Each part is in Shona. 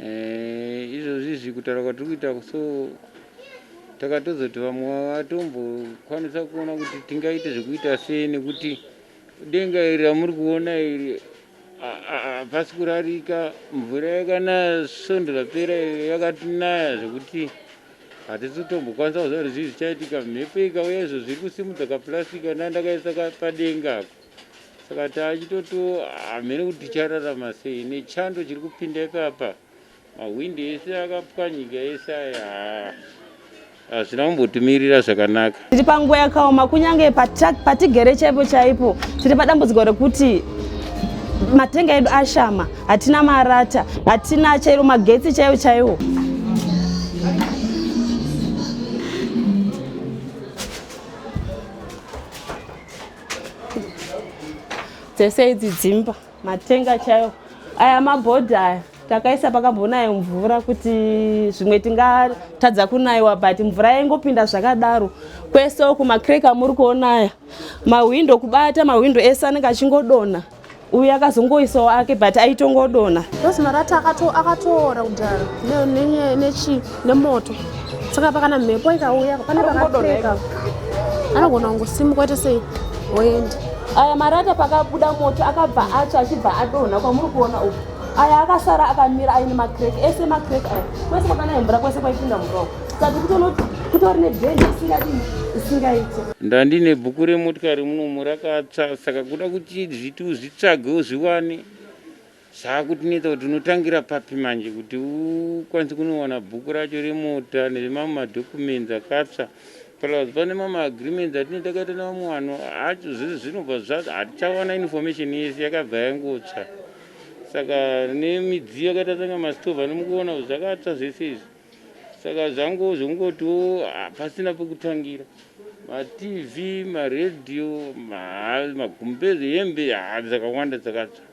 Eh, izvozvi izvi kutaura kwatiri kuita so takatozoti vamwe vatombokwanisa kuona kuti tingaite zvekuita sei nekuti denga iri ramuri kuona iri hapasi kurarika mvura yakanaya svondo rapera yakatinaya zvekuti hatisi kutombokwanisa kuziva kuti zvii zvichaitika mhepo ikauya izvo zviri kusimudza kaplastic andandakaisa padenga ako Saka taachitoto hamene kuti tichararama sei nechando chiri kupinda ipapa, mahwindi ese akapwanyika ese aya hazvina kumbotimirira zvakanaka. Tiri panguva yakaoma kunyange patigere chaipo chaipo tiri padambudziko rekuti matenga edu ashama, hatina marata, hatina chairo magetsi chaiwo chaiwo. dzese idzi dzimba matenga chayo aya mabhodhi aya takaisa pakambonayo mvura kuti zvimwe tingatadza kunaiwa but mvura yaingopinda zvakadaro kwese uku macrake amuri kuona aya mahwindo kubata mahwindo ese anenge achingodonha uyu akazongoisawo ake but aitongodona because marata akatoora kudhara nechi nemoto saka pakana mhepo ikauya pane pakapeka anogona kungosimuka ite sei woenda aya marata pakabuda moto akabva atsva achibva adonha kwamuri kuona uku aya akasara akamira aine macrek ese macrek aya kwese kwakana hembura kwese kwaipinda muroko ndandine bhuku remotikari munomu rakatsva saka kuda kuti zviti uzvitsvage uzviwane zvakutinetsa kuti unotangira papi manje kuti ukwanise kunowana bhuku racho remota nemamwe madhocumenzi akatsva plus pane mamwe agreements atine takaita nevamwe vanhu acho zvese zvinobva zvacho hatichawana information yese yakabva yangotsva saka nemidziyo yakaita sanga mastove anomukuona zvakatsva zvese izvi Saka zvangu zvokungotiwo pasina pekutangira matv maradio magumbeze hembe dzakawanda dzakatsva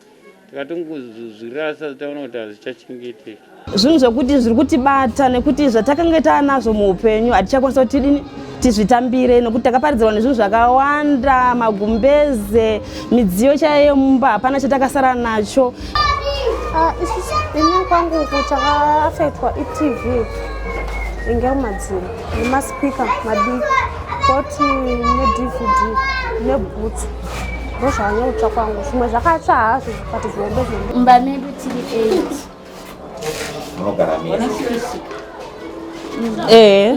takatongozvirasa taona kuti hazichachengeteki zvinhu zvekuti zviri kutibata nekuti zvatakanga taanazvo muupenyu hatichakwanisa kuti tidini tizvitambire nokuti takaparidzirwa nezvinhu zvakawanda magumbeze midziyo chaiyo yemumba hapana chatakasara nacho ah, ini kwangu uku chakaafektwa itv inge madziro nemaspika madiki koti nedvd nebhutsu ndozvanyautsva kwangu zvimwe zvakatsva hazvo but zvihombe zvombe mumba medu tiri 8 Eh,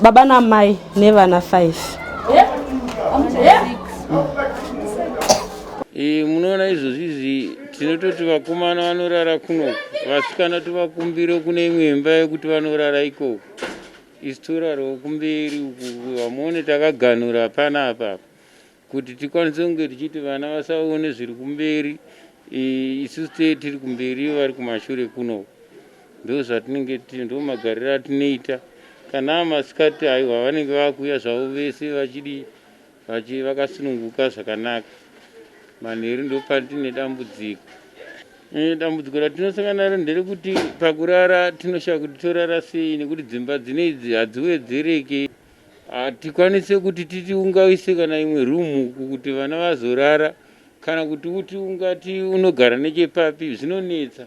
baba na mai nevana 5 eh, munoona izvozvi izvi tinototi vakomana vanorara kuno vasikana tovakumbiro kune imwe imba yekuti vanorara ikoko isu torarawo kumberi uku vamuone takaganhura hapana apapa kuti tikwanise kunge tichiti vana vasaone zviri kumberi isu ste tiri kumberi ivo vari kumashure kuno ndo zvatinenge tiri ndo magariro atinoita kana masikati aiwa vanenge vakuuya zvavo vese vachidi vachi vakasununguka zvakanaka manheru ndo patine dambudziko e, dambudziko ratinosangana naro nderekuti pakurara tinoshaya kuti torara sei nekuti dzimba dzine idzi hadziwedzereke Hatikwanise kuti titi ungaise kana imwe room uku kuti vana vazorara kana kuti uti ungati unogara nechepapi zvinonetsa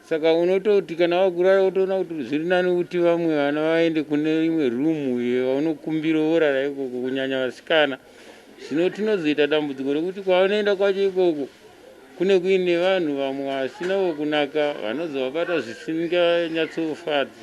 saka unototi kana wakurara wotoona kuti zviri nani kuti vamwe vana vaende kune imwe room iyo vaunokumbira vorara ikoko kunyanya vasikana zvino tinozoita dambudziko rekuti kwavanoenda kwacho ikoko kune kuine vanhu vamwe vasina vokunaka vanozovabata zvisinganyatsofadzi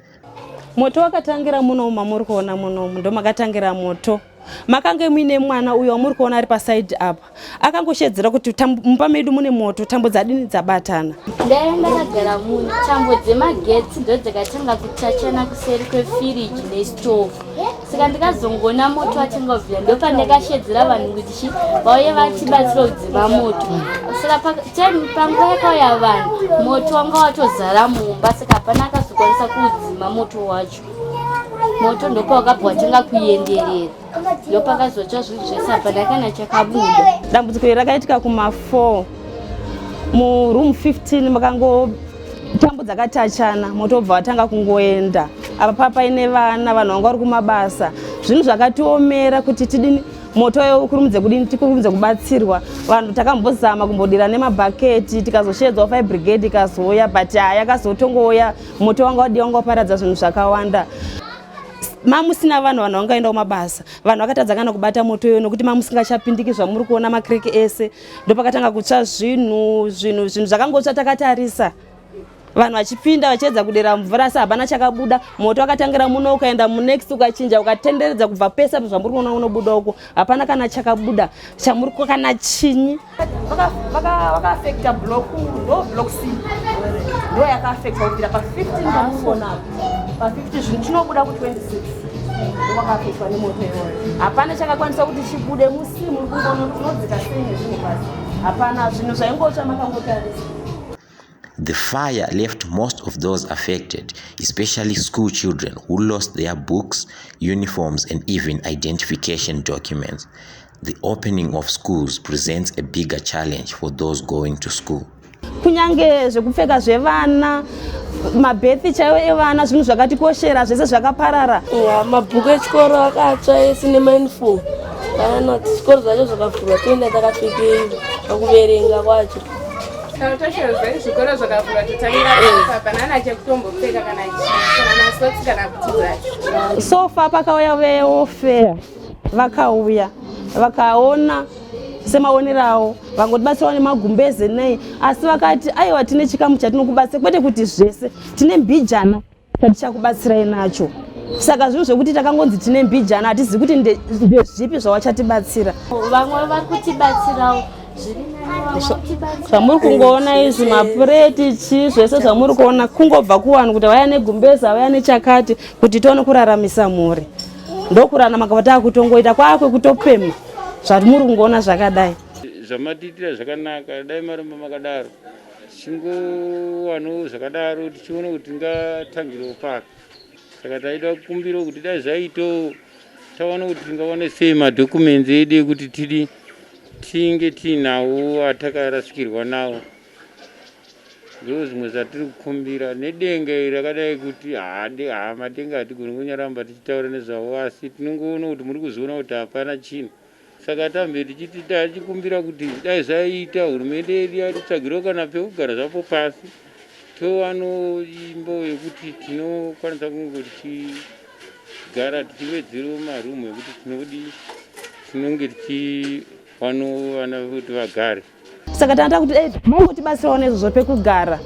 Moto wakatangira muno mamuri kuona muno ndo makatangira moto makange muine mwana uyo wamuri kuona ari pasaidi apa akangoshedzera kuti mumba medu mune moto tambo dzadini dzabatana ndaive ndakagara muno tambo dzemagetsi ndo dzakatanga kutachana kuseri kwefiriji nestove saka ndikazongoona moto wachinga ubvira ndopandakashedzera vanhu kuti vauye vachibatsira kudzima moto saka panguva yakauya vanhu moto wanga watozara mumba saka hapana akazokwanisa kuudzima moto wacho moto ndopawakabva watanga kuenderera ndopakazotsva zvinhu zvese hapana kana chakabuda dambudziko iri rakaitika kuma 4 muroom 15 makango tambo dzakatachana moto wobva watanga kungoenda apa papa paine vana vanhu vanga vari kumabasa zvinhu zvakatiomera kuti tidini moto yo ukurumidze kudini tikurumidze kubatsirwa vanhu takambozama kumbodira nemabhaketi tikazoshedzwa fire brigade ikazouya but haa yakazotongouya moto wanga wadi wanga waparadza zvinhu zvakawanda mamusina vanhu vanhu vangaenda kumabasa vanhu vakatadza kana kubata moto iyoyo nokuti mamusingachapindiki zvamuri kuona makriki ese ndopakatanga kutsva zvinhu zvinhu zvinhu zvakangotsva takatarisa vanhu vachipinda vachiedza kudera mvura asi hapana chakabuda moto wakatangira muno ukaenda munext ukachinja ukatenderedza kubva pese apo zvamuri kuona unobuda uko hapana kana chakabuda chamuri kana chinyi ndoyakaafecta kubvira pa 15 pa 15 zvinhu tinobuda ku 26 wakapetwa nemoto iwoyo hapana chakakwanisa kuti chibude musimu unodzika sei nezvinhu pasi hapana zvinhu zvaingotsva makangotarisa The fire left most of those affected, especially school children who lost their books, uniforms, and even identification documents. The opening of schools presents a bigger challenge for those going to school. kunyange zvekupfeka zvevana mabhethi chaiwo evana zvinhu zvakatikoshera zvese zvakaparara yeah, mabhuku echikoro akatsva ese nemainfom kana zvikoro zvacho zvakavhurwa toenda takapfekei pakuverenga kwacho zvikoro zvakavhurwa totangira panana chekutombopfeka kana kana kuti so far pakauya veofea vakauya vakaona semaonero avo vangotibatsirawo nemagumbeze nei asi vakati aiwa tine chikamu chatinokubatsira kwete kuti zvese tine mbijana tatichakubatsirai nacho saka zvinhu zvekuti takangonzi tine mbijana hatizivi kuti ndezvipi zvawachatibatsira vamwe vari kutibatsirawo zvamuri kungoona izvi mapureti chi zvese zvamuri kuona kungobva kuvanhu kuti vaya negumbeza vaya nechakati kuti tione kuraramisa mhuri ndokurana makabva takutongoita kwakwekutopema zvatimuri kungoona zvakadai zvamatiitira zvakanaka dai maramba makadaro tichingowanawo zvakadaro tichiona kuti tingatangirewo paka saka taida kukumbirawo kuti dai zvaitawo taona kuti tingawane sei madhokumenzi edu ekuti tidi tinge tiinawo atakarasikirwa nawo Ndizvo zvimwe zvatiri kukumbira nedenga iri rakadai kuti hade haa matenga hatigoni kunyaramba tichitaura nezvavo asi tinongoona kuti muri kuzviona kuti hapana chinhu saka tambe tichiti tachikumbira kuti dai zvaiita hurumende yedu yatitsvagirawo kana pekugara zvapo pasi tovano imbo yekuti tinokwanisa kunge tichigara tichiwedzerwo marumu ekuti tinodi tinonge tichiwano vana kuti vagare saka tanga takuti dai mongotibatsirawo nezvozvo pekugara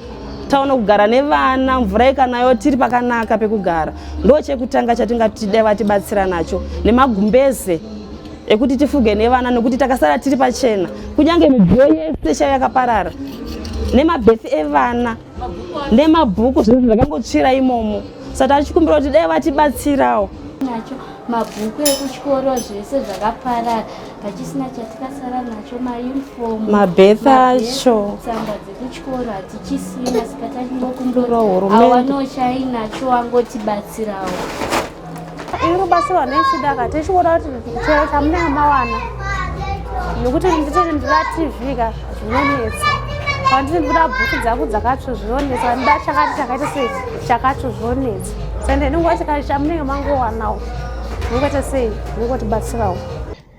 taona kugara nevana mvura ikanayo tiri pakanaka pekugara ndo chekutanga chatingatide vatibatsira nacho nemagumbeze ekuti tifuge nevana nekuti takasara tiri pachena kunyange midziyo yese chaiyo yakaparara nemabhethi evana nemabhuku zvinhu zvakangotsvira imomo saka tachikumbira kuti dai vatibatsirawo nacho mabhuku ekuchikoro zvese zvakaparara pachisina chatikasara nacho mauniform mabeth acho tsamba dzekuchikoro hatichisina saka tachingokumbirawo hurumende awanochai nacho wangotibatsirawo iri kubatsirwa nechidaka tichikuona kuti chero chamunenge mawana nokuti nditiri ndira tv ka zvinonetsa panditi ndikuda bhuku dzangu dzakatsvo zvinonetsa pandida chakati chakaita sei chakatsvo zvinonetsa sande ndingoa chikati chamunenge mangowanawo ndingoita sei ndingotibatsirawo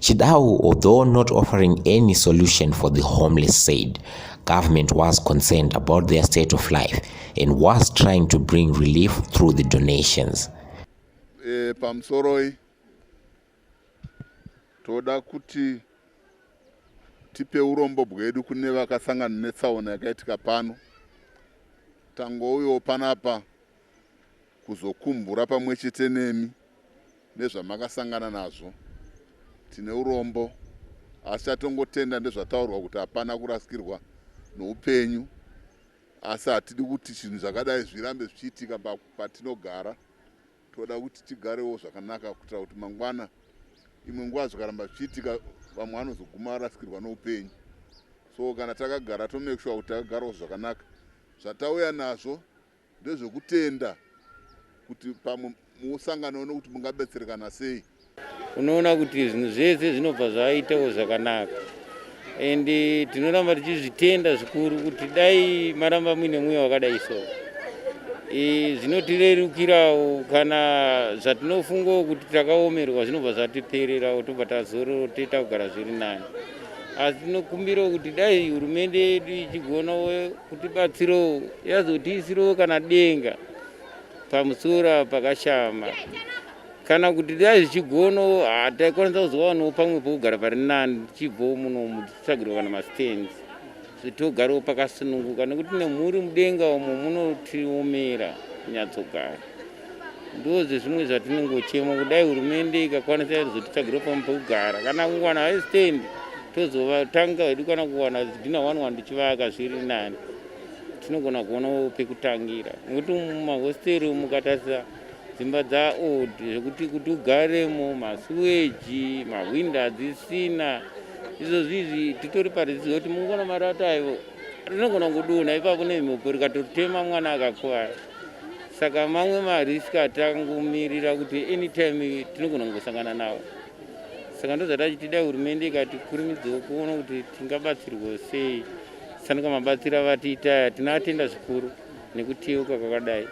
Chidau, although not offering any solution for the homeless, said government was concerned about their state of life and was trying to bring relief through the donations. E, pamsoroi toda kuti tipe urombo bwedu kune vakasangana netsaona yakaitika pano tangouyo panapa kuzokumbura pamwe chete nemi nezvamakasangana nazvo. Tine urombo asi chatongotenda ndezvataurwa kuti hapana kurasikirwa noupenyu asi hatidi kuti chinhu zvakadai zvirambe zvichiitika patinogara toda kuti tigarewo zvakanaka kuitira kuti mangwana imwe nguva zvikaramba zvichiitika vamwe vanozoguma varasikirwa noupenyu so kana takagara tomake sure kuti takagarawo zvakanaka zvatauya nazvo Ndezvekutenda kuti pamwe musangana uno kuti mungabetserekana sei. Unoona kuti zvinhu zvese zvinobva zvaitawo zvakanaka and eh, tinoramba tichizvitenda zvikuru kuti dai maramba muine mweya wakadai so eh, zvinotirerukirawo kana zvatinofungawo kuti takaomerwa zvinobva zvatipererawo tobva tazororo toita kugara zviri nani asi tinokumbirawo kuti dai hurumende yedu ichigonawo kutibatsirawo yazotiisirawo kana denga pamusoro pakashama kana kuti dai zvichigonawo hataikwanisa kuzowanawo pamwe pokugara pari nani tichibvawo muno mutsvagirwa kana mastands Kuti ugarewo pakasununguka nekuti nemhuri mudenga umo munotiomera kunyatsogara. Ndozve zvimwe zvatinongochema kudai hurumende ikakwanisa izotitsvagiro pamwe pekugara kana kuwana haistand tozovatanga hedu kana kuwana zidhina one one tichivaka zviri nani tinogona kuonawo pekutangira nekuti mumahosteri mukatarisa dzimba dzaold zvekuti kuti ugaremo masuweji mahwindi hadzisina izvo zvizvi titori parizivo kuti mungona marata aivo rinogona kudunha ipapo nemhepo rikatorutema mwana akakuvara saka mamwe marisk atangomirira kuti anytime tinogona kungosangana nawo saka ndozvatachitida hurumende ikati kurimidzawo kuona kuti tingabatsirwa sei sanuka mabatsiro avatiita aya tinoatenda zvikuru nekutiyeuka kwakadai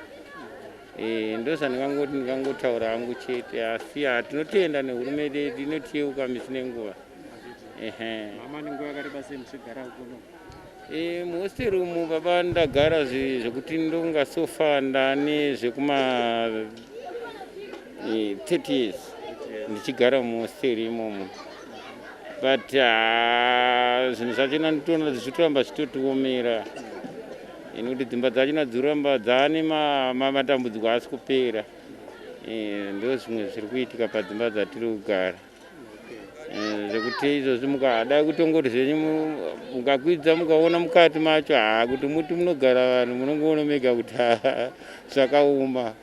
Eh, ndozvandikangotaura hangu chete asi ha tinotenda nehurumende yedu inotiyeuka misi nenguva eh, muhosteri umu baba ndagara zvekuti ndonga sofa ndane zvekuma 30 eh, years ndichigara muhosteri imomo but ah, zvinhu zvacho nanditoona zvichitoramba zvitotiomera nekuti dzimba dzachona dziramba dzaane matambudziko asi kupera eh, ndo zvimwe zviri kuitika padzimba dzatiri kugara eh, zvekuti izvozvi mukadai kutongoti zvenyu mukakwidza mukaona mukati macho haa kuti muti munogara vanhu munongoona mega kuti haa zvakaoma